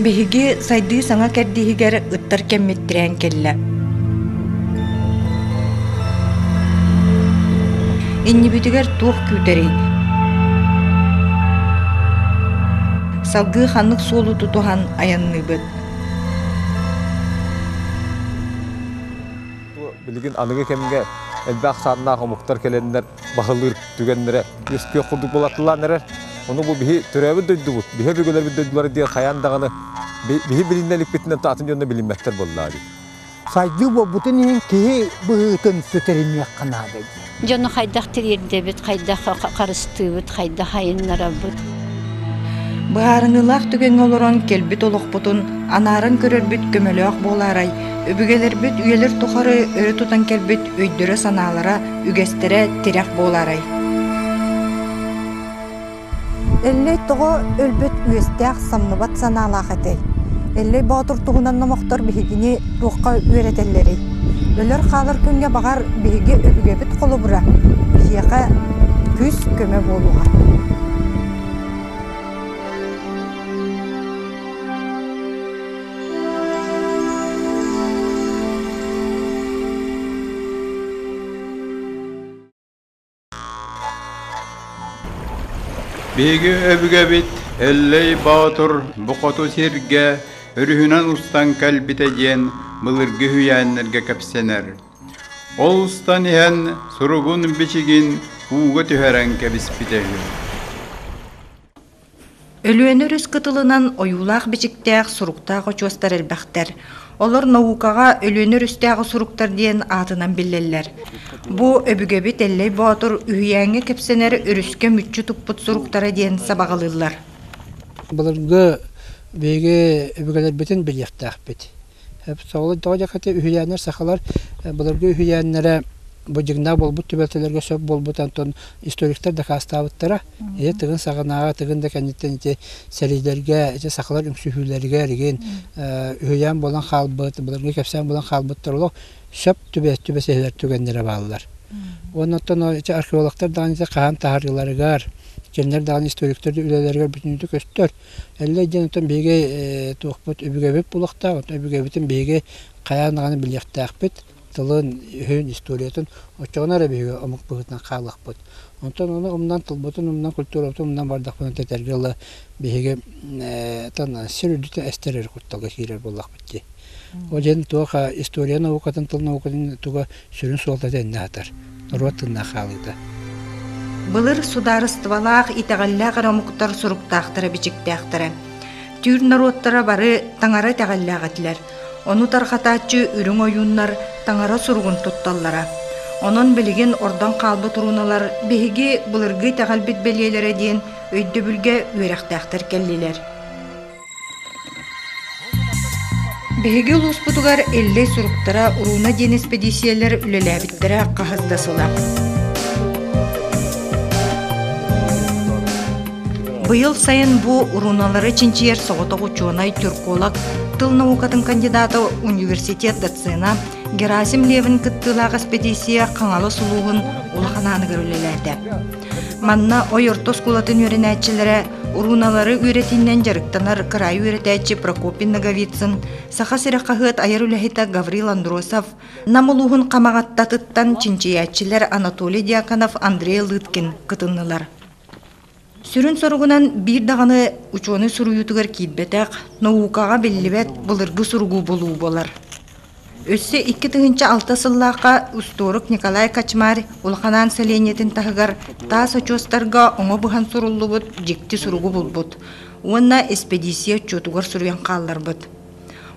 Биһиги сайдыы саҥа кэрдииһигэр ыттар кэммит тирээн кэллэ Иннибитигэр туох күүтэрий? Салгыы ханнык суолу тутуһан айанныыбыт? Билигин аныгы кэмҥэ элбэх саннаах омуктар кэлэннэр баһылыыр түгэннэрэ үөскүөх курдук буолатылаан эрэр. Ону бу биһи төрөөбүт дойдубут, биһи өбүгэлэрбит дойдулара диэн хайаан даҕаны биһи билиннэ иликпитинэн атын дьонно билиммэттэр буоллаа дии. Сайдыы буолбутун иһин киһи быһыытын сүтэриниэххэ наада. Дьону хайдах тириэрдэбит, хайдах харыстыыбыт, хайдах айыннарабыт? Быһаарыныылаах түгэҥҥэ олорон кэлбит олохпутун анааран көрөрбүт көмөлөөх буолаарай, өбүгэлэрбит үйэлэр тухары өрө тутан кэлбит өйдөрө-санаалара, үгэстэрэ тирэх буолаарай? Эллэй тоҕо өлбүт үөстээх самныбат санаалаах этэй? Эллэй Боотур туһунан номохтор биһигини туохха үөрэтэллэрий? Өлөр-хаалар күҥҥэ баҕар биһиги өбүгэбит холобура, биһиэхэ күүс-көмө буолуоҕа. Биһиги өбүгэбит Эллэй Боотур бу хоту сиргэ өрүһүнэн устан кэлбитэ диэн былыргы үһүйээннэргэ кэпсэнэр. Ол устан иһэн суругун-бичигин ууга түһэрэн кэбиспитэ үһү. Өлүөнэ өрүс кытылынан ойуулаах-бичиктээх суруктаах очуостар элбэхтэр. Олор наукаҕа Өлүөнэ өрүстээҕи суруктар диэн аатынан биллэллэр. Бу өбүгэбит Эллэй Боотур үһүйээҥҥэ кэпсэнэр өрүскэ мүччү туппут суруктара диэн сабаҕалыыллар. Былыргы биһиги өбүгэлэрбитин билиэхтээхпит. Соҕолуон тоҕо диэххитэ үһүйээннэр сахалар былыргы үһүйээннэрэ бу дьыгыннаах буолбут түбэлтэлэргэ сөп буолбут онтон историктар дакаастаабыттара ити тыгын саҕанааҕы тыгын да кэнниттэн ити сэриилэргэ ити сахалар үҥсүһүүлэригэр эргин үһүйээн буолан хаалбыт былыргы кэпсээн буолан хаалбыттар олох сөп түбэс түбэсэһэлэр түгэннэрэ бааллар уонна оттон археологтар даҕаны ити хаһан таһарыыларыгар кинилэр даҕаны историктар үлэлэригэр бүтүннүүтү көстөр Өллөй диэн отон биһиги туохпут өбүгэбит булахтаах, өбүгэбитин биһиги хайаан даҕаны билиэхтээхпит, тылын-өһүн, историятын оччоҕуна эрэ биһиги омук быһыытынан хаалыахпыт. Онтон ону умнан, тылбытын умнан, культурабытын умнан бардахпына тэтэргэ ыла биһиги сир үрдүтэ эстэр эрэ кутталга киирэр буоллахпыт дии. Ол иһин туох история наукатын тыл наукатын туга сүрүн суолта тэннэ атар, норуот тынна хаалыыта. Былыр судаарыстыбалаах итэҕэллээх эрэ омуктар суруктаахтара бичиктээхтэрэ. Түүр норуоттара бары таҥара итэҕэллээх этилэр. Ону тарҕатааччы үрүҥ ойууннар таҥара суругун тутталлара. Онон билигин ордон хаалбыт уруналар биһиги былыргы итэҕэлбит бэлиэлэрэ диэн өйдөбүлгэ үөрэхтээхтэр кэллилэр. Биһиги улууспутугар Иллэй суруктара урууна диэн испэдииссийэлэр үлэлээбиттэрэ хаһыс да сыла. Быйыл сайын бу урууналары чинчийэр соҕотох учуонай тюрколог, тыл наукатын кандидата, университет доцена Герасим Левин кыттыылаах эспэдииссийэ Хаҥалас улууһун улахан ааныгар үлэлээтэ. Манна Ойорто оскуолатын үөрэнээччилэрэ урууналары үөрэтиинэн дьарыктанар кыраай үөрэтээччи Прокопий Ноговицын, Саха сирэ хаһыат айар үлэһитэ Гаврил Андросов, Нам улууһун Хамаҕаттатыттан чинчийээччилэр Анатолий Дьяконов, Андрей Лыткин кытыннылар. Сүрүн соругунан биир даҕаны учуонай суруйуутугар киирбэтэх, наукаҕа биллибэт былыргы суругу булуу буолар. Өссө икки тыһыынча алта сыллаахха устуорук Николай Качмар улаханаан сэлиэнньэтин таһыгар таас очуостарга оҥо быһан суруллубут дьикти суругу булбут уонна эспэдииссийэ отчуотугар суруйан хаалларбыт.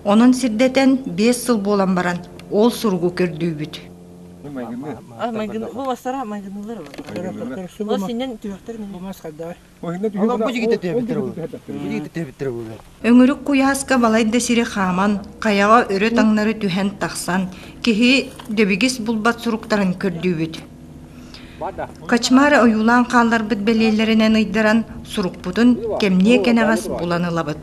Онон сирдэтэн биэс сыл буолан баран ол суругу көрдүүбүт. Амайгын бу бастара амайгынылар Ол синнэн түһэхтэр Өҥүрүк куйааска балайда сири хааман, хайаҕа өрө таҥнары түһэн тахсан, киһи дөбүгүс булбат суруктарын көрдүүбүт. Качмары ойуулаан хаалларбыт бэлиэлэринэн ыйдаран, сурукпутун кэмниэ кэнэҕэс булан ылабыт.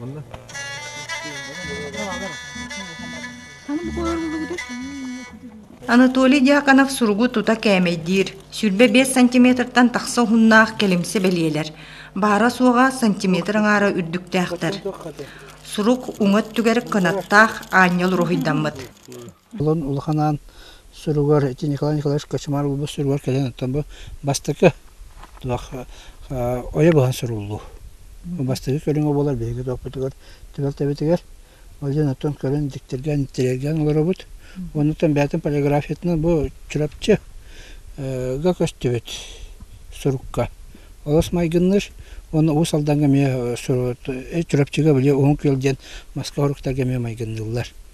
Манна. Анатолий Дьяконов суругу тута кээмэйдиир. Сүүрбэ биэс сантиметртан тахса уһуннаах кэлимсэ бэлиэлэр. Баара-суоҕа сантиметр аҥаара үрдүктээхтэр. Сурук уҥа өттүгэр кынаттаах аанньал уруһуйдаммыт. Олон улаханаан суругар ити Николай Николаевич Кочемар улуус суругар кэлэн оттон бу бастакы туох ойо быһан суруллуу. Бастакы көрүҥэ буолар биһиги туохпутугар түбэлтэбитигэр. Ол дьон оттон көрөн диктиргээн тириэргээн олоробут. Оннуттан бэйэтин полиграфиятынан бу Чурапчы га көстүбүт сурукка. Олус майгынныыр уонна Уус Алдаҥҥа эмиэ Чурапчыга били Уһун Күөл диэн маска хоруктарга эмиэ майгынныыллар.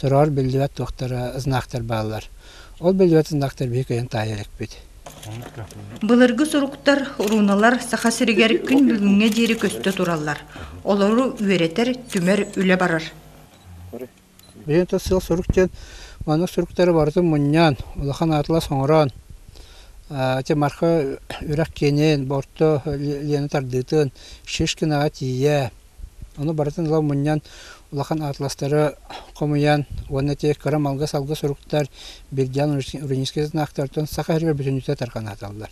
Сороҕор биллибэт туохтара знактар бааллар. Ол биллибэт знактар биһи кыйын таайа иликпит. Былыргы суруктар, руналар Саха сиригэр күн бүгүҥҥэ диэри көстө тураллар. Олору үөрэтэр, түмэр үлэ барар. Биһиги тус сыл сурук диэн маннык суруктары барытын мунньаан, улахан аатылас оҥороон, ити Марха үрэх киэнин, Борто Лена тардыытын, Шишкинаҕа тиийэ, Ону барытын ыла мунньан, улахан атластары хомуйан уонна те кыра-малга-салга суруктар Бирдиан Уринискитынаахтартан Саха иһигэр бүтүннүүтэ тарҕан ааталлар.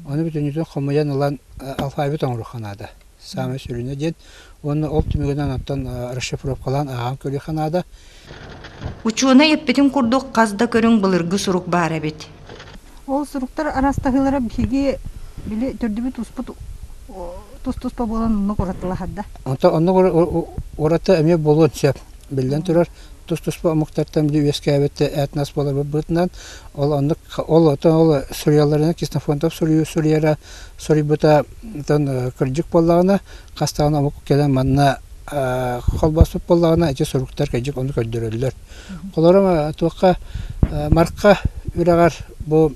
Ону бүтүннүүтүн хомуйан ылан алфавит оҥоруохха наада. Саамай сүрүнэ диэн уонна ол түмүгүнэн онтон расшифровкалаан ааҕан көрүөххэ наада. Учуонай эппитин курдук, хас да көрүҥ былыргы сурук баар эбит. Ол суруктар араастаһыылара биһиги били төрдүбүт-туспут тус-туспа буолан онно уратылаһарда. Онтон онно ураты эмиэ буолуон сөп. Биллэн турар, тус-туспа омуктартан били үөскээбит этнос буоларбытынан ол оннук ол оттон ол суруйалларынан Ксенофонтов суруйара суруйбута кырдьык буоллаҕына хастаҕына омук кэлэн манна холбоспут буоллаҕына ити суруктар кэлдьик ону көрдөрөллөр. Холорум туохха марка үрэҕэр бу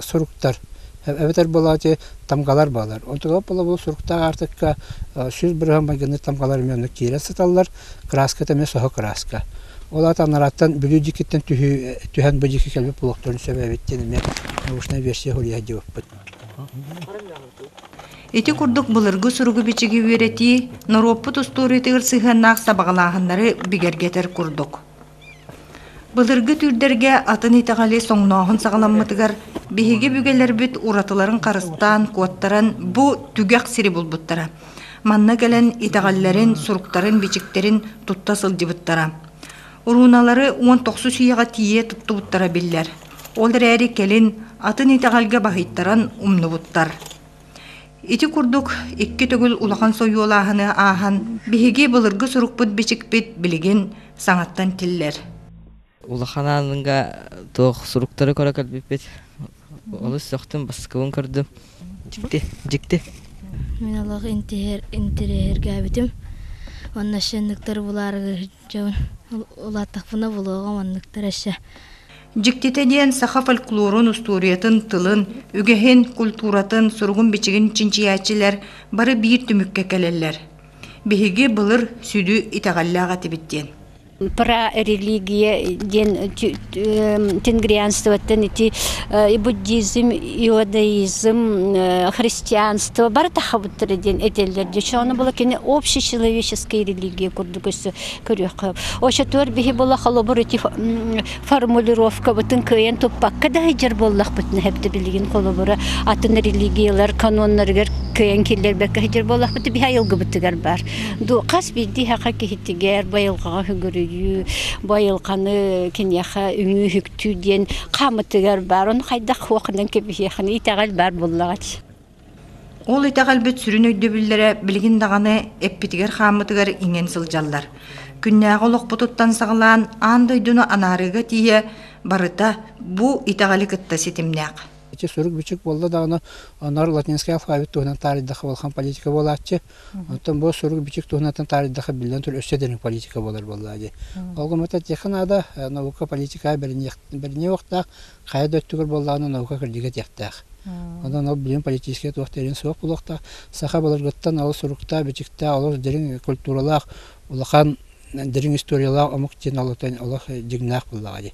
суруктар эбэтэр буолаачы тамгалар баалар. Отугап була бу суруктаах артыкка сүз бырыһан майгыны тамгалар эмиэ оннук киирэ сыталлар. Краската эмиэ соһо краска. Ол аатан нараттан бүлүү дикиттэн түһэн бу дики кэлбит буолуохтарын сөбө эбиттин эмиэ научная версия хурияхдибаппыт. Ити курдук былыргы суругу-бичиги үөрэтии, норуоппут устуоруйатыгар сыһыаннаах сабаҕалааһыннары бигэргэтэр курдук. Былыргы түүрдэргэ атын итэҕэли соҥнооһун саҕаламмытыгар биһиги бүгэлэрбит уратыларын харыстаан, куоттаран бу түгэх сири булбуттара. Манна кэлэн итэҕэллэрин, суруктарын, бичиктэрин тутта сылдьыбыттара. Урууналары уон тохсус ийэҕэ тиийэ туттубуттара биллэр. Ол эрээри кэлин атын итэҕэлгэ баһыйтаран умнубуттар. Ити курдук икки төгүл улахан сойуолааһыны ааһан биһиги былыргы сурукпут-бичикпит билигин саҥаттан тиллэр. Улахан ааныҥга туох суруктары көрө көрбүппүт. Олус сөхтүм, баскыбын көрдүм. Дьикти, дьикти. Мин аллах интиһэр интириэһиргээбитим. Онно шенниктар булаарыгы Дьэ, улаатахпына булуоҕа манныктар эссе. Дьиктитэ диэн саха фольклорун устуоруйатын тылын, үгэһин, культуратын, суругун-бичигин чинчийээччилэр бары биир түмүккэ кэлэллэр. Биһиги былыр сүдү итэҕэллээх этибит диэн. Про религия диэн Тенгрианствоттан ити и буддизм, иудаизм, христианство бары тахабыттара диэн этэллэр дьэ ону була кини общий человеческая религия курдук өссө көрүөххэ очотуор биһи була холобур ити формулировкабытын кыайан туппакка да ыйдьар буоллахпытына хэбдэ билигин холобура атын религиялар каноннарыгар кыайан киллэрбэккэ ыйдьар буоллахпыт биһи айылгыбытыгар баар хас биирдии хаха киһитигэр байылҕаҕа хөгөрүйүү Бу айылханы киниэхэ үҥүү-үһүктүү диэн хаамытыгар баар. Ону хайдах хуоханан кэбиһиэхин итэҕэл баар буллаҕач. Ол итэҕэлбит сүрүн өйдөбүллэрэ билигин даҕаны эппитигэр-хааммытыгар иҥэн сылдьаллар. Күннээҕи олохпутуттан саҕалаан аан дойдуну анаарыыга тиийэ барыта бу итэҕэли кытта ситимнээх. Эчи сурук-бичик буолла даҕаны, онор латинский алфавит туһунан таарыйдахха, балхан политика буолааччы. Оттон бу сурук-бичик туһунан таардыхха биллэн турар өссө дириҥ политика буолар буоллаа дии. Ол гыммата техха наада наука политика бэриниэ уохтаах хайа да өттүгэр буоллаҕына наука кырдига диэхтээх. Онон ол билим политическая туох диэрин суох булуохтаах. Саха былыргыттан олус суруктаах, бичиктаах, олус дириҥ культуралаах, улахан дириҥ историялаах омук диэн олох дьиҥнээх буоллаҕа дии.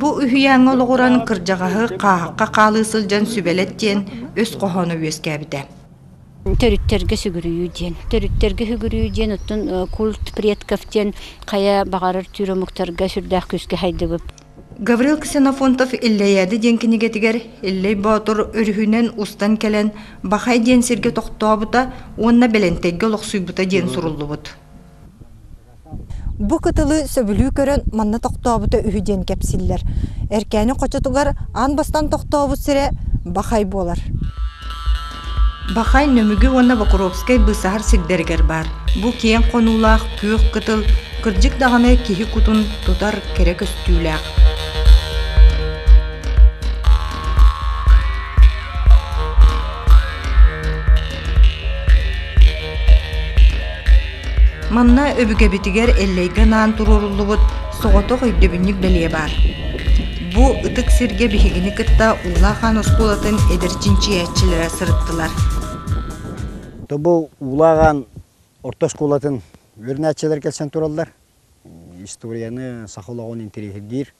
Бу үһүйээҥҥэ олоҕуран кырдьаҕаһы хааһахха хаалыы сылдьан сүбэлэттиэн өс хоһооно үөскээбитэ. Төрүттэргэ сүгүрүйүү диэн. Төрүттэргэ сүгүрүйүү диэн оттон культ предков диэн хайа баҕарар түүр омуктарга сүрдээх күүскэ хайдыбыт. Гаврил Ксенофонтов «Иллэйээди» диэн кинигэтигэр Иллэй Боотур өрүһүнэн устан кэлэн Бахай диэн сиргэ тохтообута уонна Бэлэнтэйгэ олохсуйбута диэн суруллубут. Бу кытылы сөбүлүү көрөн манна тохтообута үһү диэн кэпсиллэр. Эркээни хочотугар аан бастаан тохтообут сирэ Бахай буолар. Бахай Нөмүгү уонна Бокуровскай быысаһар сирдэригэр баар. Бу киэҥ хонуулаах күөх кытыл кырдьык даҕаны киһи кутун тутар кэрэ көстүүлээх. Манна өбүгэбитигэр Эллэйгэ анаан туруоруллубут соҕотох өйдөбүнньүк бэлиэ баар. Бу ытык сиргэ биһигини кытта Уулаахаан оскуолатын эдэр чинчийээччилэрэ сырыттылар. Тобол Уулааҕаан орто оскуолатын үөрэнээччилэр кэлсэн тураллар. Историяны, саха олоҕун интэриэһиргиир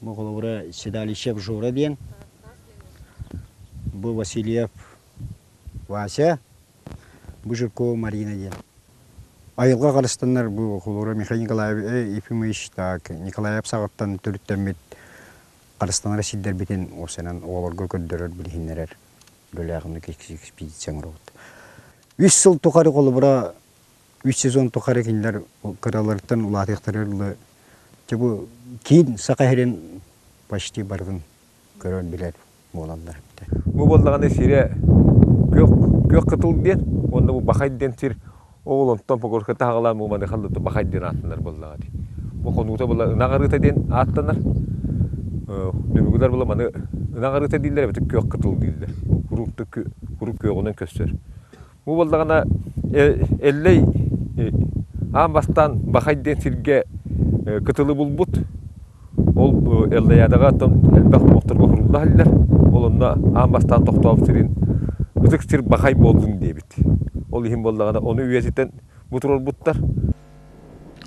Холобура Седалище Обжора диэн бу Васильев Вася, бу Жиркова Марина диэн. Айылҕа харыстаннар бу холобура Михаил Николаевич Ефимович так Николаев саҕаттан төрүттэммит харыстанара сирдэрбитин осенан оҕолорго көрдөрөр билиһиннэрэр бөлөҕүнү экспедиция оҥоробут. Үс сыл тухары холобура үс сезон тухары кинилэр кыраларыттан улаатыахтара дылы дьэ бу киин саха сирин почти барытын көрөр билэр буолаллар эбитэ Бу буоллаҕына сирэ күөх күөх кытыл диэн уонна бу бахай диэн сир ол онтон погорка таһаҕалаан бу маны халлыты бахай диэн ааттанар буоллаҕа дии. Бу хонуута була ынах арыыта диэн ааттанар. Дүбүгүлэр була маны ынах арыыта дииллэр эбэтэр күөх кытыл дииллэр. Куруук да кү куруук күөҕүнэн көстөр. Ол буоллаҕына Эллэй аан бастаан Бахай диэн сиргэ кытылы булбут. Ол Эллэйаадаҕа оттон элбэх омоктор оһурулла иһэллэр. Ол онно аан бастаан тохтообут сирин ытык сир Бахай буоллун диэбит. Ол иһин буоллаҕына ону үйэтитэн бу турарбыттар.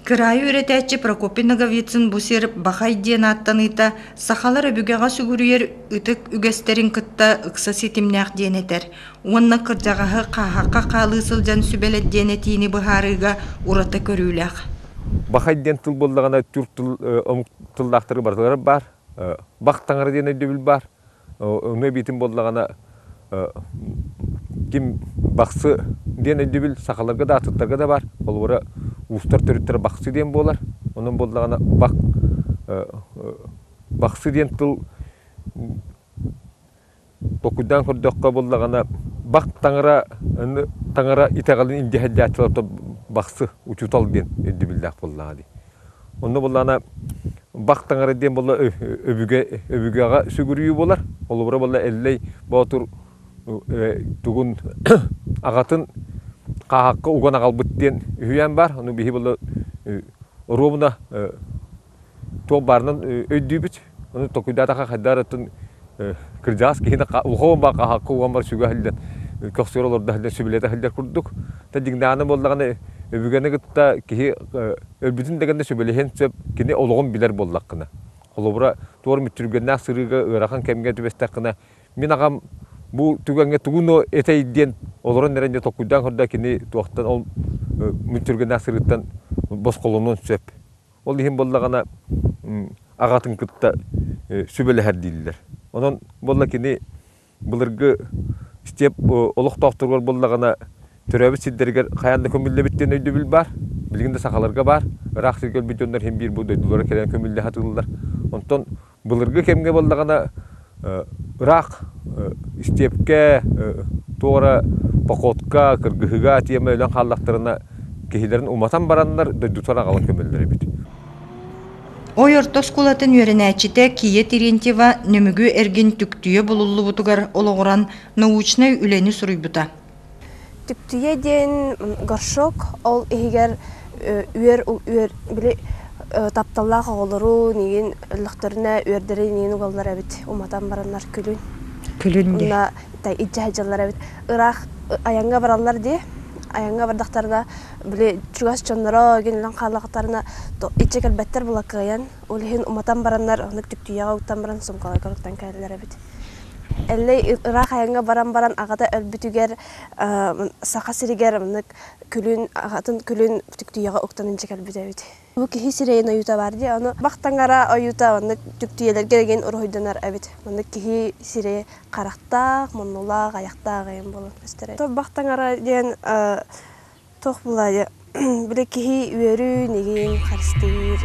Кыраайы үөрэтээччи Прокопий Ноговицын бу сир Бахай диэн ааттаныыта сахалар өбүгэҕэ сүгүрүйэр ытык үгэстэрин кытта ыкса ситимнээх диэн этэр уонна кырдьаҕаһы хааһахха хаалыы сылдьан сүбэлэт диэн этиини быһаарыыга ураты көрүүлээх. Бахай диэн тыл буоллаҕына түр тыл омук тыллаахтары барыталара баар. Бах таҥара диэн өйдөбүл баар. өҥө эбиитин буоллаҕына ким бахсы диэн өйдөбүл сахаларга да артыктарга да баар холобура уустар төрүттэрэ бахсы диэн буолар онон буоллаҕына бах бахсы диэн тыл толкуйдаан көрдөххө буоллаҕына бах таҥара таҥара итэҕэлин индиэһэлдьээччилэр бахсы учуутал диэн өйдөбүллээх буоллаҕа дии Онно буллаана бах таҥара диэн буолла өбүгэ өбүгэҕэ сүгүрүйүү буолар. Холобура буолла Эллэй Боотур тугун аҕатын хааһахха уган аҕалбыт диэн үһүйээн баар. Ону биһи буолла оруобуна туох баарынан өйдүүбүт. Ону токуйдаатаха хайдаарыттан кырдьаҕас киһи улахан баҕа хаһаакка уон бар сүгэ аһыллан көхсүөр олордо аһыллан сүбэлэтэ аһыллар курдук. Та дьиҥнэҕинэ буоллаҕына өбүгэни кытта киһи өлбүтүн да гэннэ сүбэлэһиэн сөп кини олоҕун билэр буоллаххына. Холобура туор мүччүргэннээх сырыыга ыарахан кэмҥэ түбэстэххинэ мин аҕам бу түгэҥҥэ тугуну этэй диэн олорон эрэн дьэ токуйдаан көрдө кини туохтан ол мүччүргэннээх сырыыттан босхолонуон сөп. Ол иһин буоллаҕына аҕатын кытта сүбэлэһэр дииллэр. Онон буолла кини былыргы степ олохтоохторугар буоллаҕына төрөөбүт сирдэригэр хайаан да көмүллэбит диэн өйдөбүл баар. Билигин да сахаларга баар. Ыраах сиргэ өлбүт дьоннор иһин биир бу дойдулара кэлэн көмүллэһэ атыыллар. Онтон Былыргы кэмҥэ буоллаҕына ыраах истиэпкэ туох эрэ походка, кыргыһыыга тиэмэ өлөн хааллахтарына киһилэрин уматан бараннар дойдутугар аҕалан көмөллөр эбит. Ой орто оскуолатын үөрэнээччитэ Кия Терентьева Нөмүгү эргин түктүйэ булуллубутугар олоҕуран научнай үлэни суруйбута. Түптүйэ диэн горшок ол иһигэр үөр үөр били тапталлаах оҕолору миигин өллөхтөрүнэ үөрдэрин миигин угаллар эбит уматан бараннар күлүн күлүн уна иджаһыдьаллар эбит ыраах айаҥҥа бараллар дии айаҥҥа бардахтарына били чугас дьонноро гинилэн хааллахтарына иччэ кэлбэттэр булакыайан Ол иһин уматан бараннар, оннук түктүйэҕэ уктан баран сумкаҕа көрүттэн кэлэлэр эбит. Эллэй ыраах айаҥҥа баран баран аҕата өлбүтүгэр Саха сиригэр оннук күлүн аҕатын күлүн түктүйэҕэ уктан илдьэ кэлбитэ эбит. Бу киһи сирэйин ойуута баар дии. Ону бах таҥара ойуута оннук түктүйэлэргэ дэгин уруһуйданар эбит. Маннык киһи сирэй харахтаах, муннулаах, айахтаах эйин буолан көстөр эбит. Бах таҥара диэн Туох булаайы били киһи үөрүүн, игиин харыстыыр.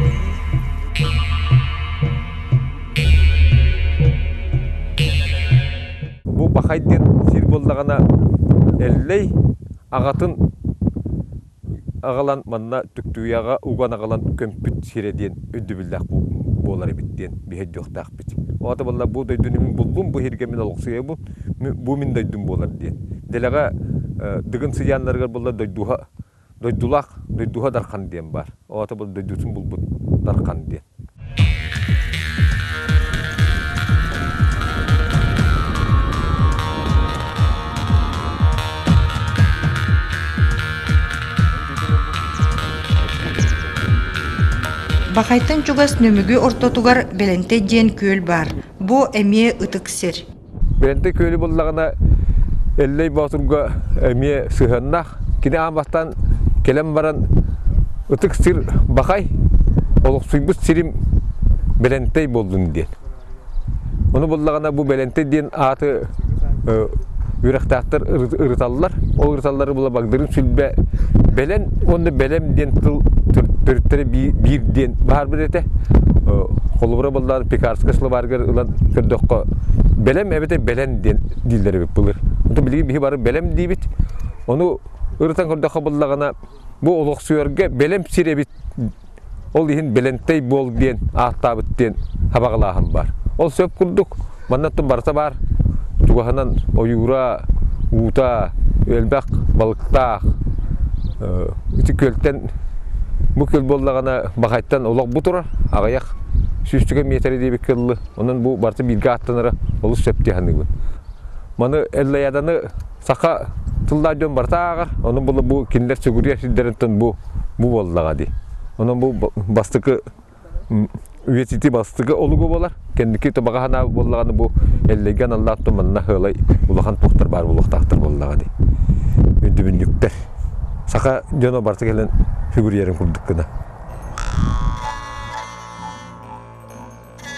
Бу бахайдык сир буоллаҕына эллэй аҕатын аҕалан манна Түктүүйэҕэ уган аҕалан көмпүт сирэ диэн өйдөбүллээх буолар эбит диэн биһирдиэхтээх. иһиспит. Оҕото буолла бу дойдуну буллум, бу иһиргэ мин олохсуйабын, бу мин дойдум буолар диэн. Дэлэҕэ Дыгын сыйааннарыгар буоллар дойдуһа дойдулаах дойдуһа Дархан диэн баар. Оҕото буолла дойдутун булбут Дархан диэн. Бахайтан чугас Нөмүгү ортотугар Бэлэнтэй диэн күөл баар. Бу эмиэ ытык сир. Бэлэнтэй күөлү буллаҕына Эллэй Боотурга эмиэ сыһыаннаах. Кини аан бастан кэлэн баран ытык сир бахай, олохсуйбут сирим Бэлэнтэй буоллун диэн. Ону буллаҕына бу Бэлэнтэй диэн ааты үрэхтээхтэр ырыталлар. Ол ырыталлары була Багдырын сүлбэ Бэлэн уонна Бэлэм диэн тыл төрүттэрэ биир диэн баарбыт этэ. Холобура буллаҕына Пекарскай словарьгар ылан көрдөххө Бэлэм эбэтэ Бэлэн диэн дииллэр эбит былыр. Онтон билигин биһи бары Бэлэм диибит. Ону ырытан көрдөххө буллаҕына бу олохсуйарга Бэлэм сир эбит Ол иһин Белентэй буол диэн ааттаабыт диэн хабаҕалааһын баар. Ол сөп курдук, манна ту барыта баар. Чугаһынан ойуура, уута, элбэх балыктаах. Ити күөлтэн бу күөл буоллаҕына бахайтан олох бу турар аҕыйах сүүстүгэ метры диэбит кыллы. Онон бу барыта бииргэ ааттанара олус сөптүү саныыбын. Маны Эллаяданы Саха тыллаах дьон барыта ааҕар, ону була бу кинилэр сүгүрүйэр сирдэринтэн бу бу буоллаҕа дии. Онон бу бастакы үйэтитии бастакы олугу буолар. Кэнники баҕа санаа буоллаҕына бу эллэйгэ аналлаах ту манна хыалай улахан туохтар баар буолуохтаахтар буоллаҕа дии. Үндүбүнньүктэр. Саха дьоно барыта кэлэн сүгүрүйэрин курдук гына.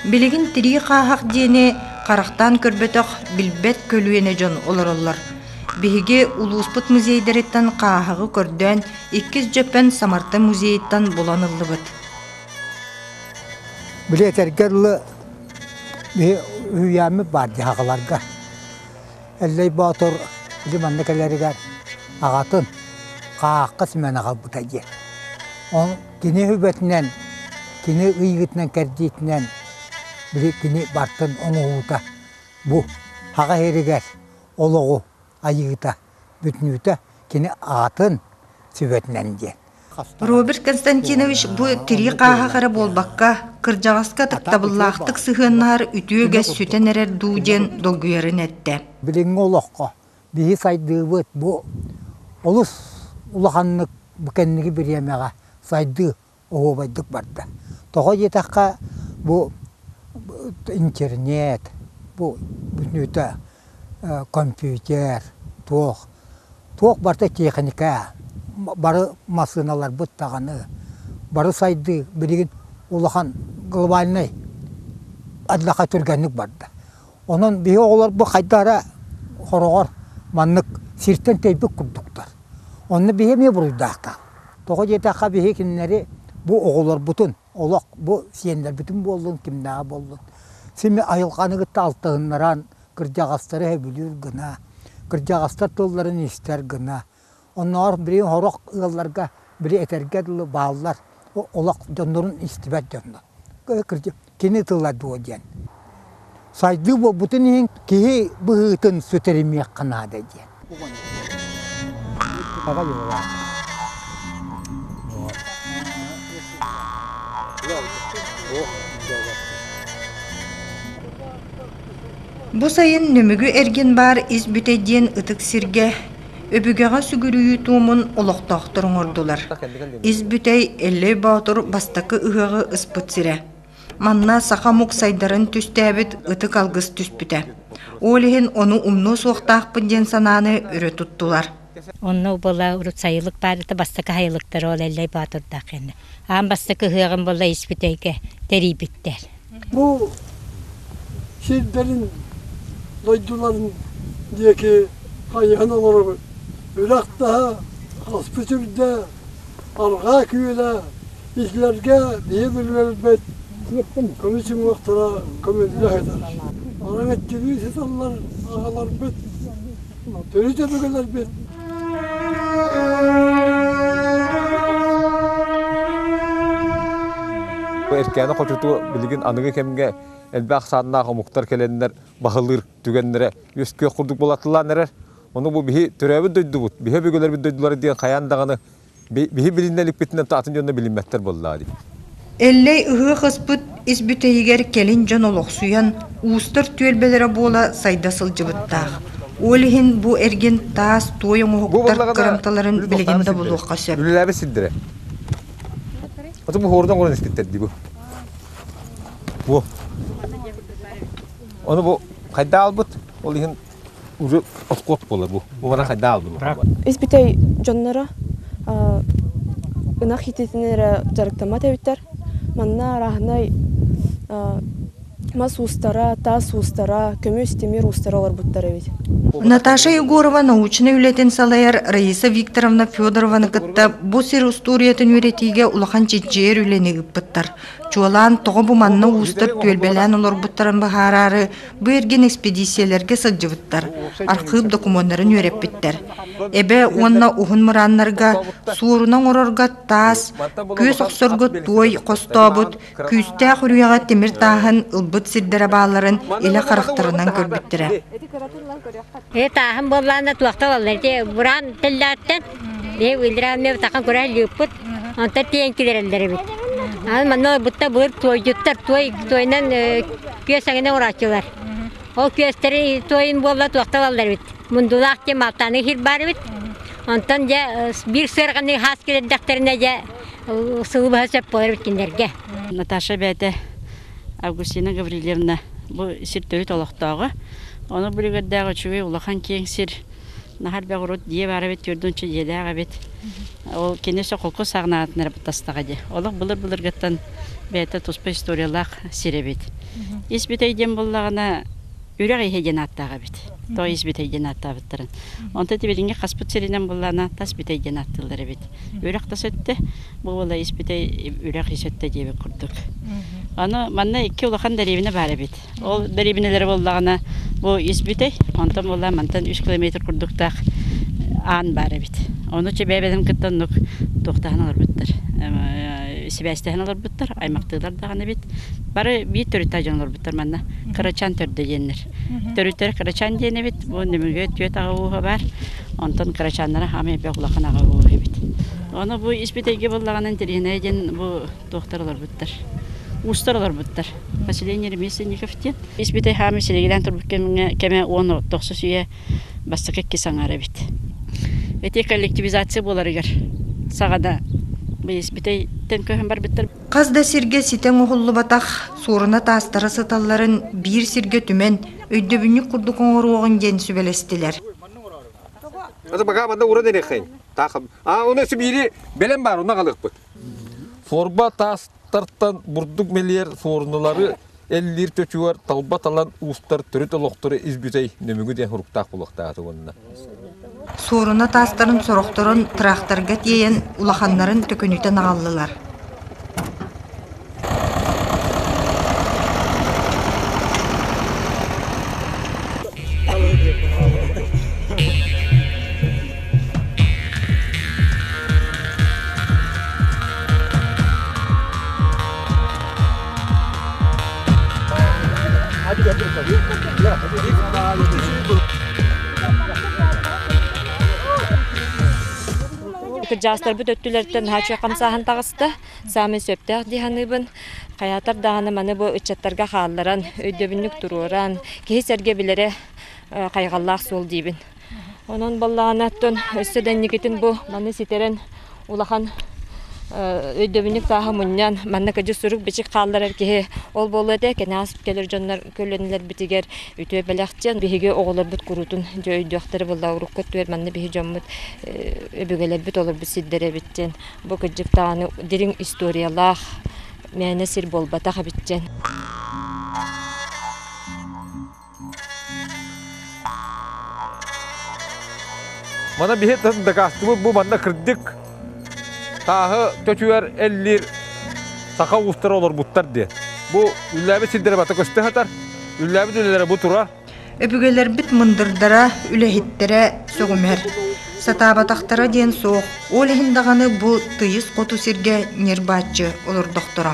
Билигин тирии хааһах диэни харахтаан көрбөтөх, билбэт көлүөнэ дьон олороллор. Биһиги улууспут музейдариттан хааһаҕы көрдөөн, иккис Дьөппөн Самарта музейыттан булан ыллыбыт. Били этэргэ дылы биһи үһүйээммит баар дьаһаҕаларга. Эллэй Боотур били манна кэлэригэр аҕатын хаахха симэн аҕалбыта диэн. Ол Кини сүбэтинэн, кини ыйыытынан-кэрдиитинэн били кини бартын оҥоһуута бу аҕа иһигэр олоҕу айыыта, бүтнүүтэ кини аатын сүбэтинэн диэн. Роберт Константинович бу тирии хааһах эрэ буолбакка, кырдьаҕаска таптабыллаахтык сыһыаннаһар үтүө үгэс сүтэн эрэр дуу диэн долгуйарын эттэ. Билиҥҥи олоххо Биһи сайдыыбыт бу олус улаханнык бу кэнники бириэмэҕэ сайдыы оһуобайдык барда. Тоҕо диэтэххэ, бу интернет, бу бүтүннүүтэ компьютер, туох, туох барыта тиэхиньикэ, бары массыыналарбыт даҕаны, бары сайдыы билигин улахан глобальнай адьаха түргэнник барда. Онон биһи оҕолор бу хайда эрэ хороҕор маннык сиртэн тэйбит курдуктар. Онно биһи эмиэ буруйдаахтар. Тоҕо диэтэххэ биһи кинилэри бу оҕолорбутун, олох бу сиэннэрбитин буоллун, кимнээҕи буоллун, сими айылҕаны кытта алтыһыннаран кырдьаҕастары сөбүлүүр гына, кырдьаҕастар тылларын истэр гына, Оннооҕор били сорох ыалларга били этэргэ дылы бааллар олох дьоннорун истибэт дьоно. Кини тыла дуо диэн. Сайдыы буолбутун иһин киһи быһыытын сүтэримиэххэ наада диэн. Бу сайын Нүмүгү эргин баар ис бүтэ диэн ытык сиргэ Өбүгэҕэ сүгүрүйүү туомун олохтоохтор оҥордулар. Ис бүтэй Эллэй Боотур бастакы ыһыаҕы ыспыт сирэ. Манна саха омук сайдарын түстээбит ытык алгыс түспүтэ. Ол иһин ону умнуо суохтаахпын диэн санааны өрө туттулар. Онно убыла урут сайылык баарыта бастакы сайылыктара ол Эллэй Боотурдаах иннэ. аан бастакы ыһыаҕым буолла испит эйгэ тэрийбиттэр. Бу сирдэрин дойдуларын диэки хайыһан олоробут. Үрэх-таһа, аспыт үрдэ, арҕаа күөлэ, иһлэргэ биһи билбэт көнө чумуохтара көмүллэ сытар. Араҥаччылыы сыталлар аҕаларбыт. Төрүт өбүгэлэрбит Эркээни хочуту билигин аныгы кэмгэ элбэх сааннаах омуктар келеннер баһылыр түгеннере үөскүөх курдук болатылаан эрер. Ону бу биһи төрөөбүт дойдубут, биһи өбүгэлэрбит дойдулары диэн хайаан даҕаны Биһи билиннэ иликпитинэн атын дьонно билиммэттэр буоллаа дии. Эллэй ыһыах ыспыт ис бүтэйигэр кэлин дьон олохсуйан, уустар түөлбэлэрэ буола сайда сылдьыбыттаах. Ол иһин бу эргин таас туой оҥоһуктар кырамталарын билигин да булуохха сөп. Үлэлээбит сирдэрэ. Оту бу хорудан көрөн иститтэрди бу. Бу. Оны бу хайда албыт, ол иһин уже откот буолар бу. Бу бара хайда албын. Испитэй жоннора ынах хититин эрэ жарыктамат эбиттер. Манна араһынай мас устара, таас устара, көмүс тимир устара олорбуттар эбит. Наташа Егорова научнай үлэтин салайар Раиса Викторовна Федорованы кытта бу сир устуоруйатын үйрэтиигэ улахан чичжиэр үлэни ыппыттар. Чуолаан тоҕо бу манна уустар түөлбэлээн олорбуттарын быһаараары Бу эргин эспэдииссийэлэргэ сылдьыбыттар, архыып докумуоннарын үөрэппиттэр. Эбэ уонна уһун мырааннарга суоруна оҥорорго таас, күөс охсорго туой хостообут, күүстээх үрүйэҕэ тимир тааһын ылбыт сирдэрэ бааларын илэ харахтарынан көрбүттэрэ. Ээ тааһым буоллаана туохта буолла ити быраан тэллээттэн ээ Илья Илья Илья Илья Илья Онтон тиэн килэрэллэр эбит. Аны манна ылбытта былыр туойдуттар туой туойунан күөс эҥинэ урааччылар. Ол күөстери туойун буолла туохта ылаллар эбит. Мундулаах диэн малтаны иһир баар эбит. Онтон дьэ биир сыарҕаны хаас килэрдэхтэринэ дьэ сылы баһа сөп буолар эбит кинилэргэ. Наташа бэйэтэ Августина Гаврильевна бу сир төрүт олохтооҕо. Ону билигэрдээҕи үчүгэй улахан киэҥ сир Нахар бөх урут дьиэ баар эбит, түөрт уонча дьиэлээх эбит. Ол кини сокулку сагнаатын эрэ баттастаҕа дии. Олох былыр-былыргыттан бэйэтэ туспа историялаах сир эбит. Ис бүтэй диэн буоллаҕына, үрэх иһэ диэн ааттаах эбит. Тоо ис бүтэй диэн ааттаабыттарын. Онто тибилиҥҥи хаспыт сиринэн буоллаҕына, тас бүтэй диэн ааттыыллар эбит. Үрэх тас өттө, бу уола ис бүтэй үрэх ис өттө диэбит курдук. Аны манна икки улахан дэриэбинэ баар эбит. Ол дэриэбинэлэрэ буоллаҕына бу ис бүтэй, онтон буолла мантан үс километр курдуктаах аан баар эбит. Ону чэбээбэтин кытта оннук туохтаһан олорбуттар. Сибээстэһэн олорбуттар, аймахтыылар даҕаны эбит. Бары биир төрүттээх дьон олорбуттар манна. Кырачаан төрдө диэннэр. Төрүттэрэ кырачаан диэн эбит. Бу Нөмүгэ түөрт аҕа ууһа бар. Онтон кырачааннара хаамай эбэ улахан аҕа ууһ эбит. Ону бу ис бүтэйгэ буоллаҕына интэриэһинэй диэн бу туохтар олорбуттар уустар олорбуттар поселение ремесленников диэн ис битэй хаамы силигилээн турбут кэмҥэ кэмэ уон тохсус үйэ бастакы иккис аҥаара эбит эти коллективизация буоларыгар саҕада испитейтен көһөн барбыттар хас да сиргэ ситэн уһуллубатах суоруна таастара сыталларын биир сиргэ түмэн өйдөбүнньүк курдук оҥоруоҕун диэн сүбэлэстилэр это пока манда уран эрехин таах а у нас в мире белем бар уна галыкпыт Форма таастартан бурдук мэлийэр суоруналары эллиир чочугар талба талан уустар төрүт олохтору ис бүтэй нөмүгү диэн суруктаах буолуохтаах уонна. Суоруна таастарын сорохторун тыраахтарга тиэйэн улаханнарын төкүнүтэн аҕаллылар. Кырдьаастарбыт өттүлэриттэн хааччы хамсааһын таҕыста. Саамай сөптөөх дии саныыбын. Хайаатар даҕаны маны бу ыччаттарга хаалларан, өйдөбүнньүк туруоран, киһи-сэргэ билэрэ хайҕаллаах суол диибин. Онон буоллаҕына оттон өссө да инникитин бу маны ситэрэн улахан өйдөбүнньүк сааһы мунньан, маннык адьас-сурук-бичик хаалларар киһи ол буолуо этэ кэнэҕэс кэлэр дьоннор көлүөнэлэрбитигэр үтүө бэлэхтиэн, биһиги оҕолорбут куруутун дьэ өйдүөхтэрэ буоллаҕа урукку өттүгэр манна биһи дьоммут өбүгэлэрбит олорбут сирдэрэ эбит диэн Бу кырдьык даҕаны дириҥ историялаах мээнэ сир буолбатах эбит диэн. Мана биһи дакаастыбыт бу манна кырдык тааһы төтүгэр эллиир саха уустара олорбуттар диэн. Бу үллээбит сирдэрэ бата көстө хатар, үллээбит үлэлэрэ бу тура, Өбүгэлэрбит мындырдара, үлэһиттэрэ сөҕүмэр. Сатаабатахтара диэн суох, ол иһин даҕаны бу тыйыс хоту сиргэ ньырбааччы олордохторо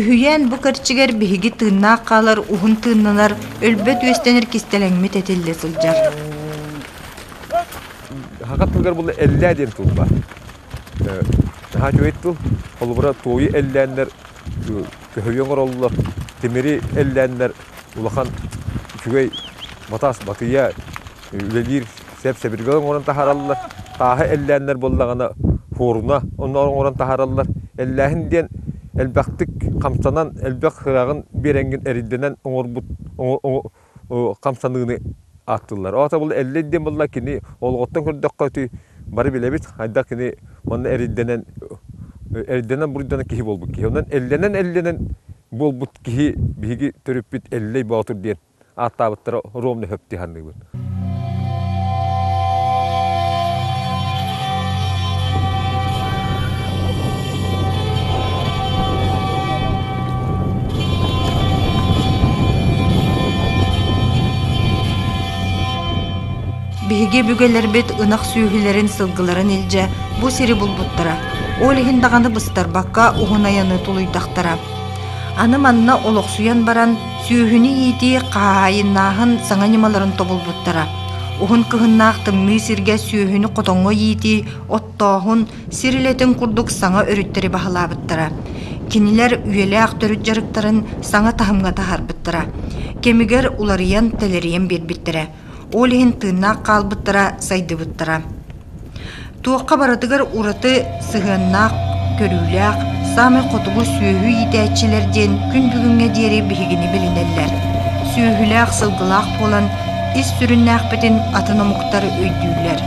Үһүйээн бу кэрчигэр биһиги тыыннаах хаалар уһун тыыннанар, өлбөт үөстэнэр кистэлэҥмит этиллэ сылдьар. Хаха тылыгар була эллээ диэн тыл баар. Наһаа үчүгэй тыл. Холобура туойу эллээннэр көһүйэ оҥороллор, тимири эллээннэр улахан үчүгэй батаас батыйа үлэлиир Сэп-сэбиргэли оҥорон таһаараллар, тааһы эллээннэр буоллаҕына фуруна оҥорон таһаараллар. Эллээһин диэн элбэхтик хамсанан, элбэх сыраҕын биэрэҥҥин эрийдэнэн оҥорбут хамсаныыны ааттыыллар. Ол табылы эллэй диэн буолла кини олоҕуттан көрдөххө ити бары билэбит хайдах кини манна эрийдэнэн эрийдэнэн буруйданан киһи буолбут киһи. Онон эллэнэн-эллэнэн буолбут киһи биһиги төрүппүт Эллэй Боотур диэн ааттаабыттара ровно хөптүһанныыбын. Биһиги бүгэлэрбит ынах сүөһүлэрин сылгыларын илдьэ бу сири булбуттара. Ол иһин даҕаны быстарбакка уһун айаны тулуйдахтара. Аны манна олохсуйан баран Сүөһүнү иитии хаһаайыннааһын саҥа ньымаларын тобулбуттара. Уһун кыһыннаах тымныы сиргэ сүөһүнү хотоҥҥо иитии оттооһун сир үлэтин курдук саҥа өрүттэри баһылаабыттара. Кинилэр үйэлээх төрүт дьарыктарын саҥа таһымҥа таһаарбыттара. Кэмигэр уларыйан, тэлэрийэн биэрбиттэрэ. Ол иһин тыыннаах хаалбыттара, сайдыбыттара. Туохха барытыгар ураты сыһыаннаах, көрүүлээх, саамай хотугу сүөһү иитээччилэр диэн күн бүгүҥҥэ диэри биһигини билинэллэр. Сүөһүлээх, сылгылаах буолан ис сүрүннээхпитин атын омуктар өйдүүллэр.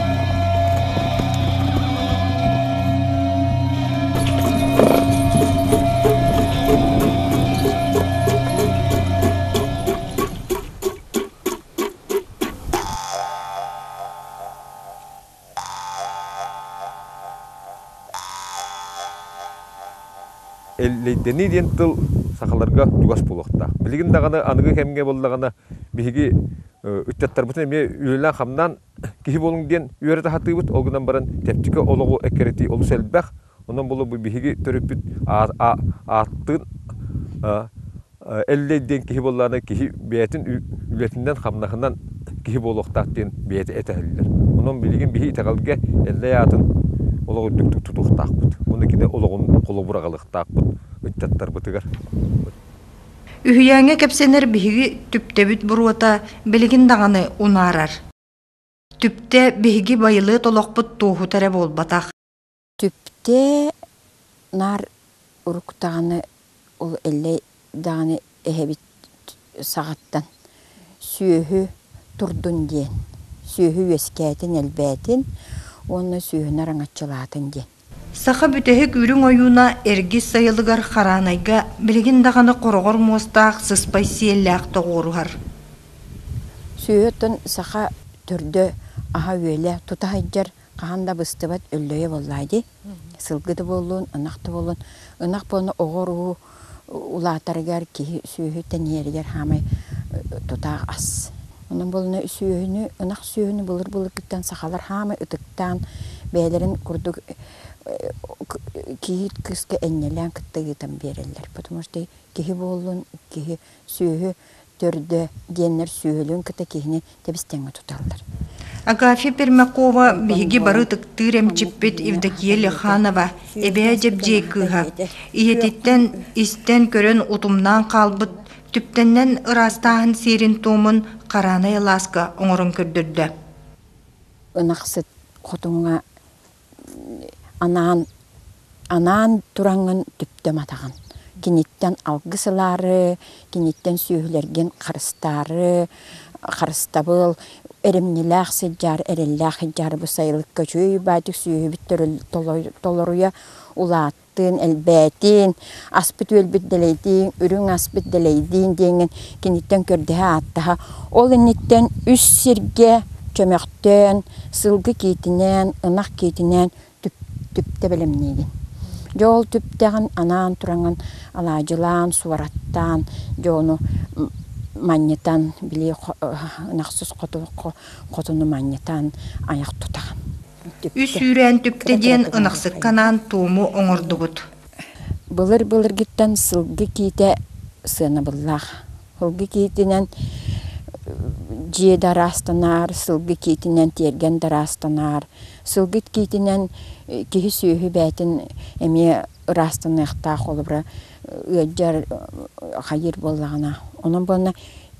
Эллэйдэнии диэн тыл сахаларга чугас буолуохтаах. Билигин даҕаны аныгы кэмҥэ буоллаҕына биһиги ыччаттарбытын эмиэ үлэлээн-хамнаан киһи буолуҥ диэн үөрэ таһытыыбыт, ол гынан баран чэпчэки олоҕу эккирэтии олус элбэх. Онон буолуо бу биһиги төрүппүт ааттыын Эллэй диэн киһи буоллаҕына киһи бэйэтин үлэтинэн-хамнаһынан киһи буолуохтаах диэн бэйэтэ этиһэллэр. Онон билигин биһи итэҕэлгэ Эллэй аатын олох үрдүктүк тутуохтаахпыт. Уонна кини олоҕун холобур аҕалыахтаахпыт ыччаттарбытыгар. Үһүйээҥҥэ кэпсэнэр биһиги түптэбит буруота билигин даҕаны унаарар. Түптэ биһиги байылыат олохпут туоһута эрэ буолбатах. Түптэ наар уруктаҕына ол эллэй даҕаны эһэбит саҕаттан сүөһү турдун диэн, сүөһү үөскээтин элбээтин уонна сүөһүнү араҥаччылаатын диэн. Саха бүтэһик үрүҥ ойууна эргис сайылыгар хараанайга билигин даҕаны хороҕор муостаах сыспай сиэллээх тоҕуоруһар. Сүөһүттэн саха төрдө, аһа-үөлэ тута сылдьар хаһан да быстыбат өллөйө буоллаҕа дии. Сылгы да буоллун, ынах да буоллун, ынах буолла оҕо-уруу улаатарыгар киһи сүөһү тэнийэригэр хаамай тутаах ас. Онон буоллана сүөһүнү, ынах сүөһүнү былыр-былыргыттан сахалар хаамай ытыктаан бэйэлэрин курдук киһи кыыска энньэлээн кытта ыытан биэрэллэр. Потому что киһи буоллун, киһи Сүөһү төрдө диэннэр сүөһүлүн кытта киһини тэбистэҥҥэ туталлар. Агафья Пермякова биһиги бары ытыктыыр эмчиппит Евдокия Леханова эбээ дьэбдьиэй кыыһа. Ийэтиттэн истэн көрөн утумнаан хаалбыт түптэннэн ыраастааһын сиэрин-туомун хараанай алааска оҥорон көрдөрдө. Ынахсыт хотуҥҥа анаан анаан тураҥҥын түптүм атаҕын. Киниттэн алгыс ылаары, киниттэн сүөһүлэргин харыстаары, харыстабыл, эримньилээх сыдьаар, эрэллээх сыдьаар бу сайылыкка үчүгэй баайтык сүөһүбүт толоруйа улаат тыын элбээтин, аспыт-үөлбүт дэлэйдиин, үрүҥ аспыт дэлэйдиин диэҥҥин киниттэн көрдөһө-ааттаһа, ол инниттэн үс сиргэ чөмөхтөөн, сылгы киитинээн, ынах киитинээн түптэ бэлэмниигин. Дьэ ол түптэҕин анаан тураҥын алаадьылаан, суораттаан, дьэ ону манньытан, били ынахсыс хоту хотуну манньытан, айах тутаҕын. үс үүрээн түптэ диэн ынахсыкка анаан туому оҥордубут былыр былыргыттан сылгы киитэ сыанабыллаах сылгы киитинэн дьиэ да араастанаар сылгы киитинэн тиэргэн да араастанаар сылгыт киитинэн киһи сүөһү бээтин эмиэ ыраастаныахтаах холобура ыалдьар хайыыр буоллаҕына онон буолла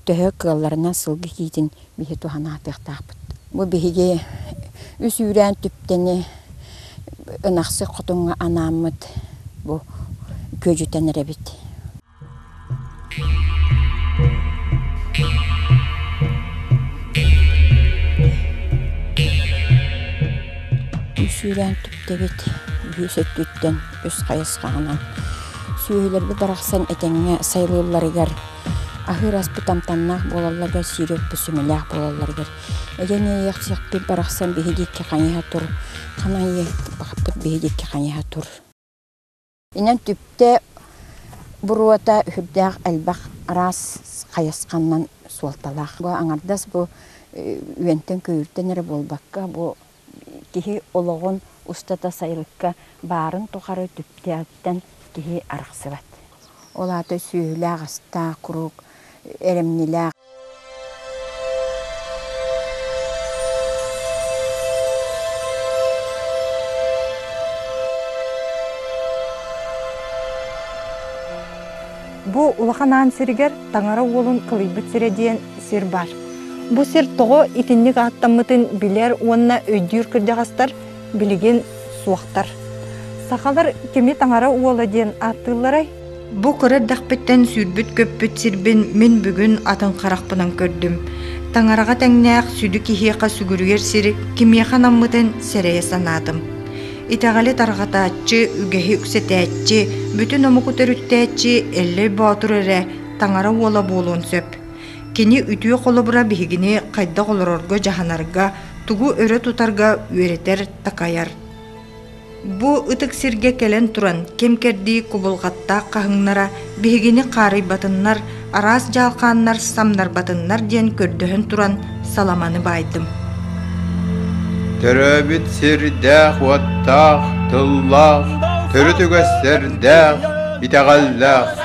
төһө кыалларынан сылгы киитин биһи туһан аатыахтаахпыт. Бу биһиги үс үүрээн түптэни ынахсык хотуҥҥа анааммыт бу күөдьүтэн эрэбит. Үс үүрээн түптэгит үһүс өттүттэн үс хайысхаҕынан сүөһүлэрбит барахсан этэҥҥэ сайылыылларыгар Аһыыр аспыт амтаннаах буолалларыгар, сири отто сүмэлээх буолалларыгар эдьэн иэйиэхсиэхпит барахсан биһиги икки хайыһа тур ханан иэйиэхпит биһиги икки хайыһа тур инэн түптэ буруота үһүрдээх элбэх араас хайысханнан суолталаах бу аҥардас бу үөнтэн күүртэн эрэ буолбакка бу киһи олоҕун устата сайылыкка баарын тухары түптээҕиттэн киһи арахсыбат. Ол аата сүөһүлээх-астаах куруук эрэмнилээх Бу улахан аан сиригэр Таҥара уолун кылыйбыт сирэ диэн сир баар. Бу сир тоҕо итинник ааттаммытын билэр уонна өйдүүр кырдьаҕастар билигин суохтар. Сахалар кими Таҥара уола диэн ааттыылларай? Бу кыра эрдэхпиттэн сүүрбүт көппүт сирбин мин бүгүн атын харахпынан көрдүм. Таҥараҕа тэҥнээх сүдү киһиэхэ сүгүрүйэр сир кимиэхэ наммытын сэрэйэ санаатым. Итэҕэли тарҕатааччы, үгэһи үксэтээччи, бүтүн омуку төрүттээччи Эллэй Боотур эрэ таҥара уола буолуон сөп. Кини үтүө холобура биһигини хайдах олорорго дьаһанарга, тугу өрө тутарга үөрэтэр, такайар. Бу ытык сиргэ кэлэн туран ким кэрдии кубулҕаттаах хаһыҥнара биһигини хаарыйбатыннар, араас дьалхааннар самнарбатыннар диэн көрдөһөн туран саламаны баайдым төрөөбүт сирдээх-уоттаах тыллаах төрүт үгэстэрдээх итэҕэллээх